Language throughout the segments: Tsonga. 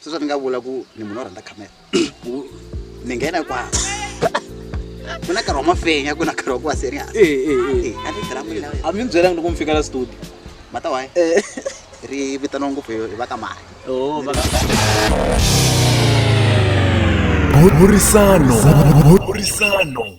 sweswo ni nga vula ku ni munhu wo rhandza camera ku ni nghena kwaa ku na nkarhi wa mafenya ku na nkarhi wa ku va serious Eh, eh, eh. Eh, a ni tirha mali lawa a mi ni byelanga loko mi fika la studio mata waye ri vitaniwa ngopfu hi hi va ka mali Oh, va- burisano burisano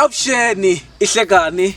avuxeni i hlekani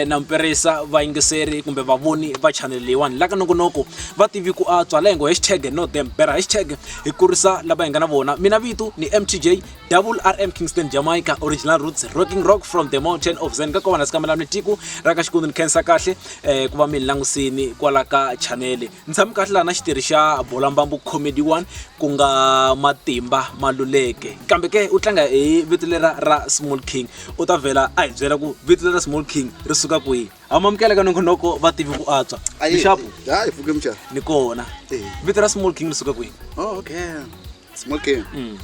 na mperisa vayingiseri kumbe vavoni va chanel leyiwani la ka nokonoko va tivi ku antswa la hi ngo hashtag no them bera hashtag hi kurisa lava hi nga na vona mina vito ni mtj double rm kingston jamaica original roots rocking rock from the mountain of zen ka kona sikamela ni tiko ra ka xikwundini khensa kahle um ku va mi ni langusini kwala ka chanele ni tshame kahle laha na xitirhi xa bolambambu comedy one ku nga matimba maluleke kambe ke u tlanga hi vito lera ra small king u ta vhela a hi byela ku vito lera small king ri suka kwihi hamamukela ka nongonoko va tivi ku antswa mixapu ni kona vito ra small king ri suka kwihi oh, okay smoking Mm.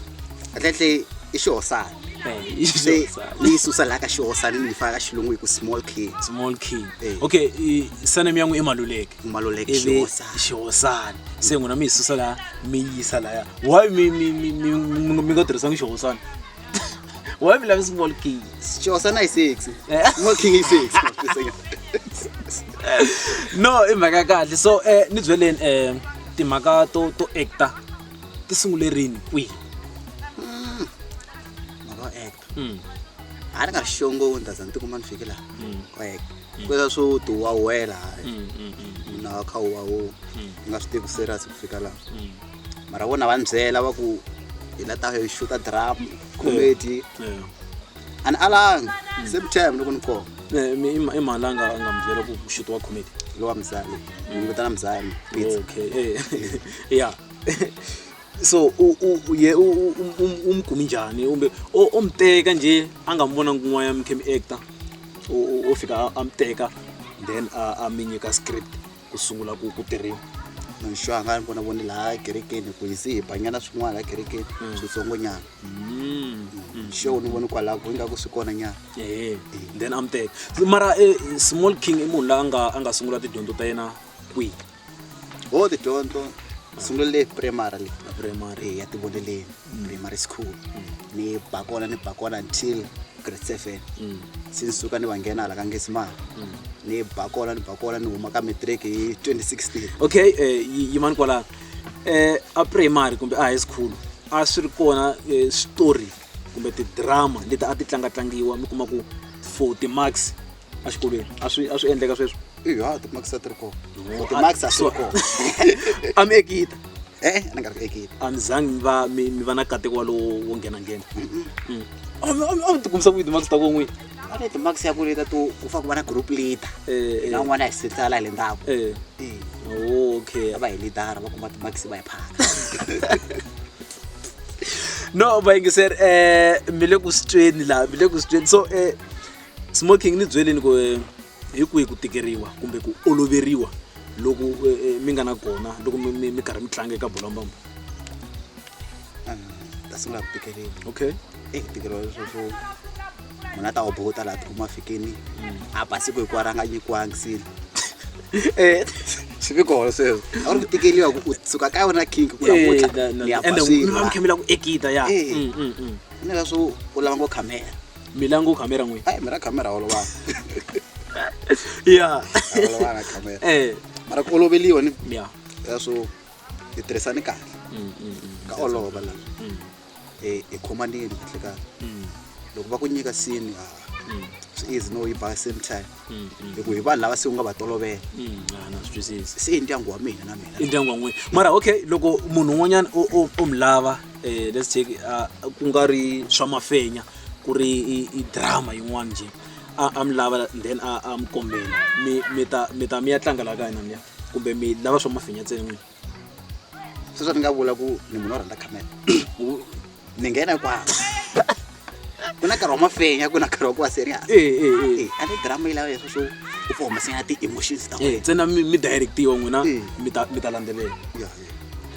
atletle i xihosana Eh, i se xihosana. ni yi susa laha ka xihosana ni yi faka ka xilungu hi ku small king small king Eh. okay i- surname ya n'wi i maluleke maluleke Ivi xihosana xihosana se n'wina mi yi susa laha mi yi yisa laya why mi mi mi mi mi- mi nga tirhisanga xihosana why mi lavi small king xihosana i six Eh. small king i six no i mhaka ya kahle so um ni byeleni um timhaka to to acta ti sungule rini kwihi mhaka yo act Mm, a ni nga ri xongo wo ndaza ni tikuma ni fike laha mm, ku act kweswa swo ti wawela hayi mm, mm, mm, munhu a kha u wawu Mm. ni nga swi tivi serious ku fika laha mm. mara vona va ni byela va ku hi la ta hi xuta drama comedy Yeah. a ni alanga same time loko ni koma Eh, mi- i ma- i mhala a nga a nga mi byela ku xito wa comedy lowa mzami ni vitana mzami pizza okay eh, yeah so u- u- u- ye u- u- u- um- umgumi njani umbe o- omteka nje angambona kun'waya mkhemi actor o- o- o fika a- amteka then a a mi nyika script ku sungula ku ku tirhiwa nxo a nga ni vona voni laha kerekeni ku hisi hi banyana swin'wana laha kerekeni switsongonyana show ni voni kwalaho ku ingaku swi kona nyana ehe then am teka mara eh, small king i munhu la a nga a nga sungula tidyondzo ta yena kwihi ho tidyondzo sungulele primary le primary e ya tivoneleni primary school ni ba kona ni ba kona until grade seven se ni suka ni va nghena hala ka ngesimana ni ba kona ni ba kona ni huma ka matric hi 2016 okay eh, yi- yimani kwalaho eh, a primary kumbe a high school a swi ri kona eh, switori kumbe tidrama leti a ti tlangatlangiwa mi kuma ku for timax exikolweni a swi a swi endleka sweswo iya timax a ti ri kona For timax a swi ri kona a mi ekita e-e ni nga ri ku ekita a mi zangi mi va mi mi va na kateko walowo wo nghenanghena a mi a mi- a mi tikumisa ku yi timax ta kon'wini va ni timakisi ya ku leta to ku fana ku va na group leader Eh, eh. na un'wana ya hi setsala hi le ndzhaku Eh, Eh, okay va hi lidara va kuma timakisi va hi phaka no vayingiseri eh mi le ku sitweni laha mi le ku sitweni so eh smoking ni byeleni ku eh, hi kwihi ku tikeriwa kumbe ku oloveriwa loko eh, eh, mi nga na kona loko mi- mi mi karhi mi tlanga eka bolambamba ta sungula ku tikeriwa okay eyi ntikelo swo swo munhu a ta wu bukuta laha tikuma fikini a ba siku hikuwa ra nga nyikiwangi sini eh, swi vi kona sweswo a ri ku tikeliwa ku u suka ka yona kink ku nakutlha eh, ni ya ba swilo va mukhamela ku ekita ya eh. mm, mm, mm. ni ka swo u lava ngo khamera mi lava ngo khamera n'wini ayi mi ra khamera olovana ya olovana khamera mara ku oloveliwa ni ya swo hi tirhisani kahle ka olova lava e, e khomanini kahlekahle mm. loko va ku nyika sini ha mm. swi easy no yi ba same time mm, hi ku hi vanhu lava se u nga va tolovela se i ndyangu wa mina na mina i ndyangu wa n'wina mara okay loko munhu un'wanyana u mi lava um let's take uh, ku nga ri swa mafenya ku ri i drama yin'wana njhe a mi lava then a mi kombela mi ta mi ya tlanga la ka hina niya kumbe mi lava swa mafenya ntsena n'wina sweswo ni nga vula ku ni munhu o rhandza camera ni nghena kwalo ku na nkarhi wa mafenya ku na nkarhi wa ku va serious Eh, eh, eh. Eh, a ni drama yi lava leswo swo u pfa humesela ti-emotions ta Eh, wena ntsena mi mi directiwa n'wina Eh. mi ta mi ta landzelela Ya, ya.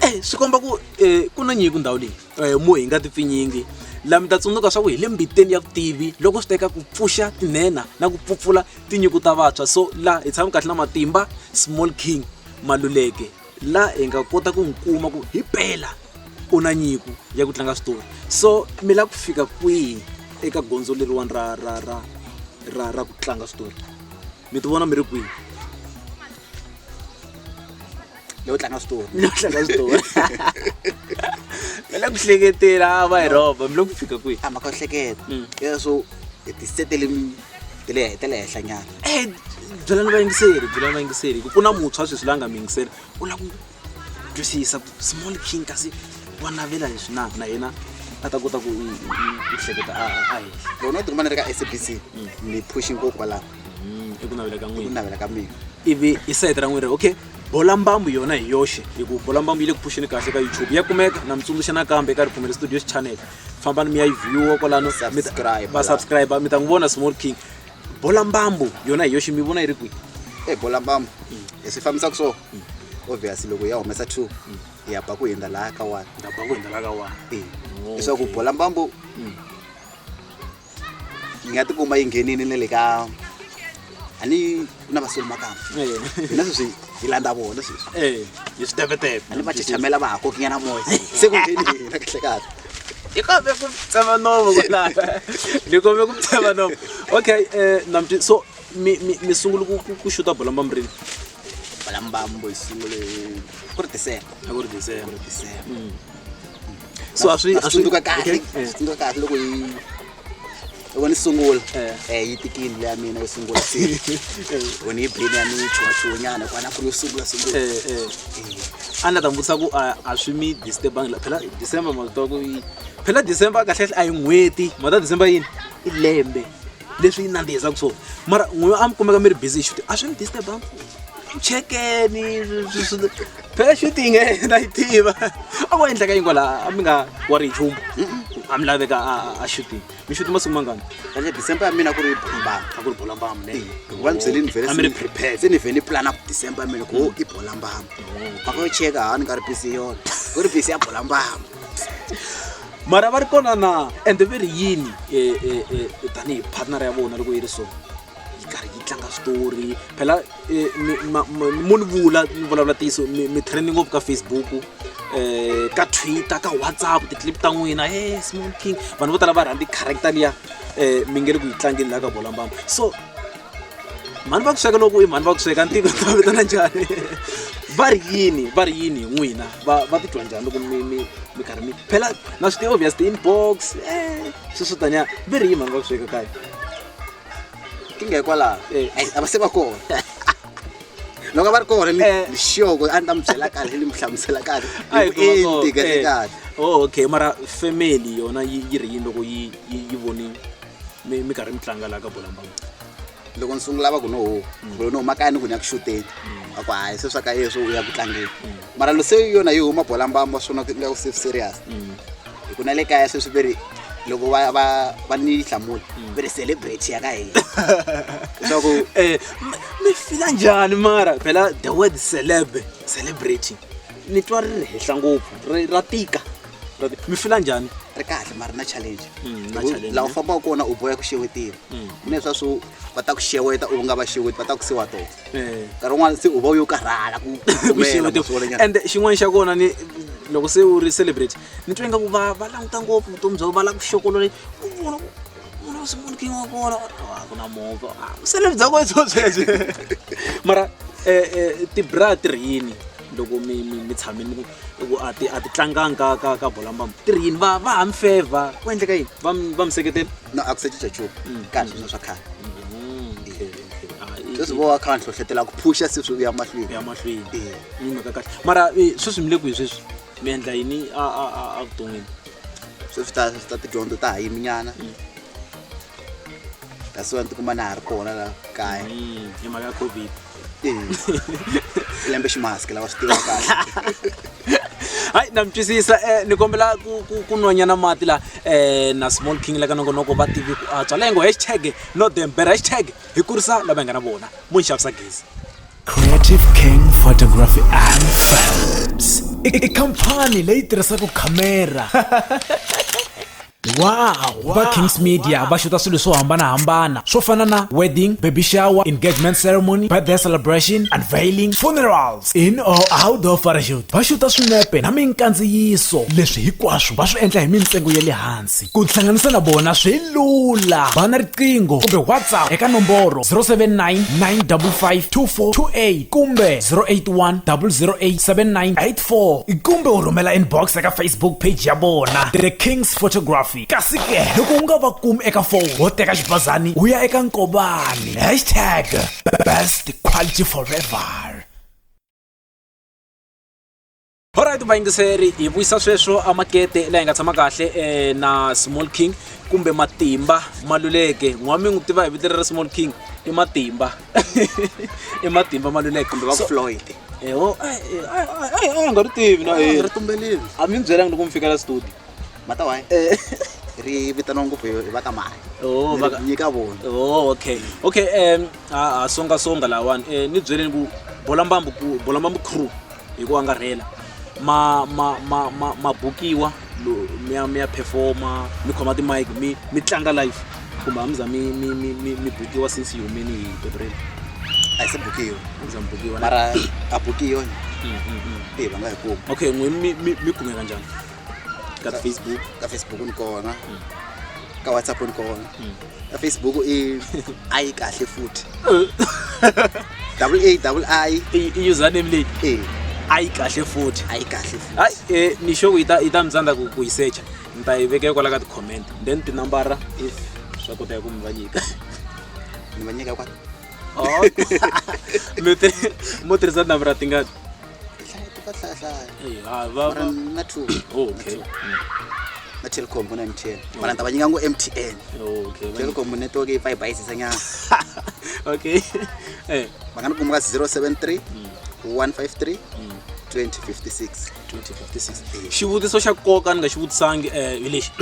Eh, swi komba ku eh, ku na nyiko ndhawu leyi eh, mo hi nga tipfinyingi laha mi ta tsundzuka swa ku hi le mbiteni ya vutivi loko swi teka ku pfuxa tinhenha na ku pfupfula tinyiko ta vantshwa so laha hi tshami kahle na matimba small king Maluleke la hi nga kota ku n'wi kuma ku hi pela u na nyiko ya ku tlanga switori so mi lava ku fika kwihi eka gondzo leriwani ra ra ra ra ra ku tlanga switori mi ti vona mi ri kwihi leyo tlanga switori mi lava ku tlanga switori mi lava ku hleketela a va hi rhoba mi lava ku fika kwihi a mhaka yo hleketa Mm. ya so hi tisetele mi- ti le ti le henhla nyana Eh, byelani vayingiseri byelani vayingiseri ku pfuna muntshwa sweswi la nga mi yingiseri u lava ku twisisa ku small king kasi wa navela leswi na na yena a ta kota ku i- i- i- i hleketa a a- a henhla loko no tikuma ni ri ka sabc ni phushi ngopfu kwalaho Mm, i ku navela ka ku n'wina navela ka mina ivi i sayiti ra n'wina okay bola mbambu yona hi yoxe hi ku bola mbambu yi le ku phuxeni kahle ka youtube ya kumeka na mi tsundzuxa nakambe eka ripfumelo studios channel fambani mi ya yi viewa kwalano mi ta- Subscribe va la. subscribe mi ta n'wi vona small king bola mbambu yona hi yoxe mi vona yi ri kwihi e bola mbambo hi swi fambisaka so obvious loko ya humesa two hi ya ba ku hundza laha ka one ndabha ku hindzelaka wani e leswaku bola mbambo yi nga tikuma yi nghenini na le ka a ni ku na vasoli makamba hina sweswi hi landza vona sweswi Eh, hi switepetepe a ni va chichamela va ha kokinyana moya se ku ngheni hina kahle kahle ni kombe ku tsema nomo kwalaya ni kombe ku tsema nomo okay eh, namti so mi mi- mi sungule ku- ku- ku xuta bolamba mi rini balambambo yi sungule ku ri december a ku ri december december so a swi a swi tsundzuka kahle Okay. Eh. tsundzuka kahle loko yi loko ni sungula Eh. eh yi tikini leya mina yo sungula se loko ni yi bini ya mina yi chuwachuwanyana kwana ku ri yo sungula sungula Eh, eh. Eh. a ni ta n'wi vutisa ku a a swi mi disturbangi la phela december ma swi tiva ku yi phela december kahlekahle a yi n'hweti ma ta december yini i lembe leswi yi nandzihisaka swona mara n'we a mi kumeka mi ri busy hi shuti a swi mi disturbangi chekeni swi- swi- swi- phela shuti nge na yi tiva a ko endleka yingo laha a mi nga wa ri nchumu a mi laveka a shuti mi shuti masiku mangani ene december ya mina ku ri bolambama a ku ri bolambama ne hikuva ni byele ni vhele a mi ri prepare se ni vhele ni plana ku december ya mina ku i bolambama a ko cheka ha ni nga ri busy yona ku ri busy ya bolambama mara va ri kona na ende ve ri yini e, e, e, tanihi partner ya vona loko yi ri so yi karhi yi tlanga switori phela mo ni vula ni vulavula ntiyiso mi training ngopfu ka facebook um ka twitter ka whatsapp ti-clip ta n'wina e small king vanhu vo tala va rhandzi character liya um mi nge le ku yi tlangeni laha ka bolambamba so mhani va ku sweka loko i mhani va ku sweka ntiko ta vitana njhani va ri yini va ri yini hi n'wina va va titwa njhani loko mi mi mi karhi mi phela na swi ti-obvious ti-inbox e swi swo taniya va ri yini mhani va ku sweka kaya inkinga hikwalaho Eh. Ai, a va se va kona loko a va ri kona ni Eh. ni sure ku a ni ta mi byela kahle ni mi hlamusela kahle Ai, ku va kona. vuenti kahle Eh. kahle Oh, okay mara family yona yi yi ri yini loko yi yi yi voni mi mi karhi mi tlanga laha ka bolambangu loko ni sungula va ku no ho kulo no makaya ni ku ni ya ku xuteni a ku hayi se swa ka yeswo u ya ku tlangeni mara lo se yona yi huma bola mbamba swona ku nga ku se serious mm. hi ku na le kaya sweswi ve ri loko va va va ni hlamula mm. ve ri celebrate ya ka hina leswaku um eh, mi fila njhani mara phela the word celeb celebrity ni twa ri ri henhla ngopfu ra tika mi fila njhani ri kahle mara na challenge mm, laha u fambaka kona u boya ku xewetini mina leswa swo va ta ku xeweta u nga va xeweti va ta ku siwa tona eh. nkarhi wun'wana se u va u yo karhala ku and xin'wana xa kona ni loko se u ri celebrate ni twa ingaku va va languta ngopfu vutomi bya va lava ku xokolole ku vona munhu u sungula king wa kona ku na movha celebrate bya kweso sweswi mara um eh, eh, tibra ti ri yini loko mi mi mi tshamile mi ku ku a ti a ti tlanganga ka ka ka bola mbamba ti ri yini va va ha mi feva ku endleka yini va mi- va mi seketela no a ku se cinca nchumu Mm. ka ha ri sweswo swa khale Ah, i- sweswi vo va kha va ni hlohletela ku phusha se swi vuya mahlweni ya mahlweni Eh. ni mhaka kahle mara eh, sweswi mi le kwihi sweswi mi endla yini a a a a vuton'wini sweswi ta ta tidyondzo ta ha yiminyana that's why ni tikuma na ha ri kona la kaya Mm, hi mhaka ya covid lembe ximask lava swi tiva kahle hayi na mi twisisa eh, ni kombela ku- ku- ku nwanyana mati la eh, na small king la ka nongonoko va tivi ku antswa leyi ngo hashtag no them better hashtag hi kurisa lava hi nga na vona mo ni xavisa gezi Creative King Photography and Films. I- i- Ikhampani leyi tirhisaka khamera va kings media va xuta swilo swo hambanahambana swo fana na wedding baby shower engagement ceremony birthday celebration unveiling funerals in or out of parachute va xuta swinepe na minkandziyiso leswi hinkwaswo va swi endla hi mintsengo ya le hansi ku tihlanganisa na vona swi lula va na riqingho kumbe whatsapp eka nomboro 079 955 2428 kumbe 081 008 79 4 kumbe u rhumela inbox eka facebook page ya vona the kings photography kasi ke loko u nga va kumi eka foni wo teka xibazani u ya eka nkobani hashtag best quality forever Alright vayingiseri hi vuyisa sweswo a makete la hi nga tshama kahle eh, na Small King kumbe Matimba Maluleke n'wami n'wi tiva hi vito ra Small King i Matimba i matimba ma luleke kumbe va floyd eho a ya nga ri tivi na yena ri tumbelile a mi byelanga loko mi fika la studio mata wayi ri vitaniwa ngopfu hi va ka mali Oh, baka- nyika vona Oh, okay okay um a a songa songa lawani um ni byeleni ku bolambambu ku bolambambu crew hi ku angarhela ma ma ma ma ma bukiwa mi ya mi ya performa mi khoma ti-mic mi mi tlanga live kumbe a mi za mi mi mi mi mi bukiwa since yi humeni hi petrel a hi se bukiwa a mi za mi bukiwa na- mara a bukiwa Mm, mm, mm. eyi va nga hi kumi okay n'wini mi mi mi kumeka njhani ka ti-facebook ka facebook ni kona ka whatsapp ni kona Mm. ka facebook i a yi kahle futhi double a double i username leyi e a yi kahle futhi a yi kahle hayi um eh, ni xo ku yi ta yi ta mi tsandza ku ku yi secha ni ta yi vekela kwala ka ti-comment then tinambara if swa koteka ku mi va nyika ni va nyika kwala Oh. mi ti mo tirhisa number ra tingani Hlaya ti ka hlaya hlaya. Eh, ah, va- Mara va- na two. Oh, okay. Na Telkom ku na MTN. Mara ni ta va nyika ngo MTN. Oh, okay. va- Telkom network yi pfa yi bayisisa nyana. okay Eh, Va nga ni kuma ka 073 153 mm, 2056. 2056 xivutiso xa nkoka ni nga xi vutisangi um hi lexi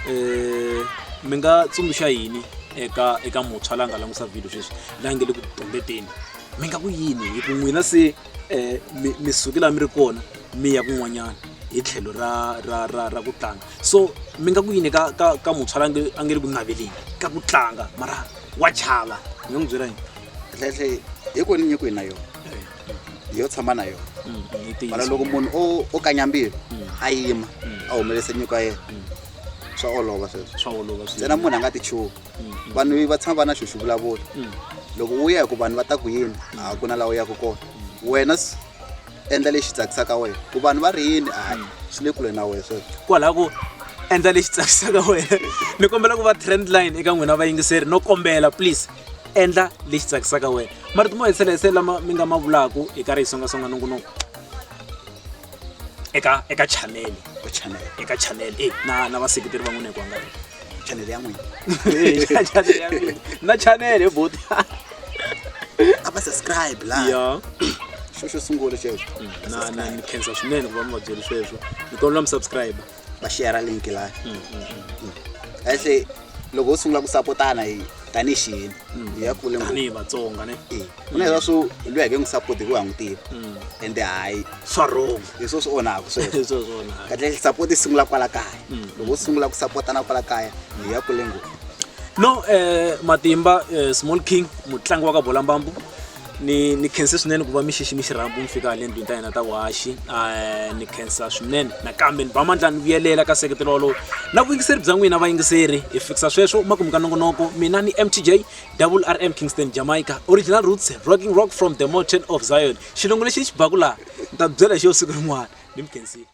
um mi nga tsundzuxa yini eka eka muntshwa la nga langusa vhilyo sweswi la nge le ku tumbeteni mi nga ku yini hi ku n'wina se um mi suke laha mi ri kona mi ya kun'wanyana hi tlhelo ra ra ra ra ku tlanga so mi nga ku yini ka ka ka muntshwa la a nge le ku naveleni ka ku tlanga mara wa chava mi nga n'wi byela yini tlhetlhe hi koni nyiko yi na yona yo tshama na yona Mm, mm, yi tiyisa. mara loko munhu o o kanyambilo a yima a humelese nyiko ya yena swa olova sweswo swa olova swi ntsena munhu a nga ti chuki vanhu va tshama va na xo xi vulavula loko u ya hi ku vanhu va ta ku yini a ku na laha u yaka kona wena s- endla lexi tsakisaka wena ku vanhu va ri yini a swi le kule na wena sweswo kwalaho ku endla lexi tsakisaka wena ni kombela ku va trend line eka n'wina vayingiseri no kombela please endla lexi tsakisaka wena marito mo hetisela hise lama mi nga ma vulaka hi karhi hi songasonga nongonoko eka eka chanele eka chanele e na na vaseketeri va n'wina hi ku angana chanele ya n'wina na chanele hi boti a va subscribe la ya xo xo sungula xexo mm, na na ni khensa swinene ku va mi va byeli sweswo ni kombela mi subscribe va xiya ra le mukilani a se loko ho sungula ku sapotana hi tanihi xiyini hi ya kule ngopfu tanihi vatsonga ne Eh, ku na leswa swo loyi ake n'wi sapoti hikuva ha n'wi tiva ende hayi swa wrong hi swo swi onhaka sweswo Swa swona. kahle sapoti yi sungula kwala kaya loko u sungula ku sapotana kwala kaya hi ya kule ngopfu no eh, matimba eh, small king mutlangi wa ka bolambambu ni ni khense swinene ku va mi xiximi xirhambu mi fika le ndlwini ta hina ta vuhaxi eh, ni khensa swinene nakambe ni ba mandla ni vuyelela ka seketelo walowo na vuyingiseri bya n'wina vayingiseri hi fikisa sweswo makumu ka nongonoko mina ni mtj double rm kingston jamaica original roots rocking rock from the mountain of zion xilungu lexi ni xi baku laha ni ta byela hi xo siku rin'wana ni mi khensile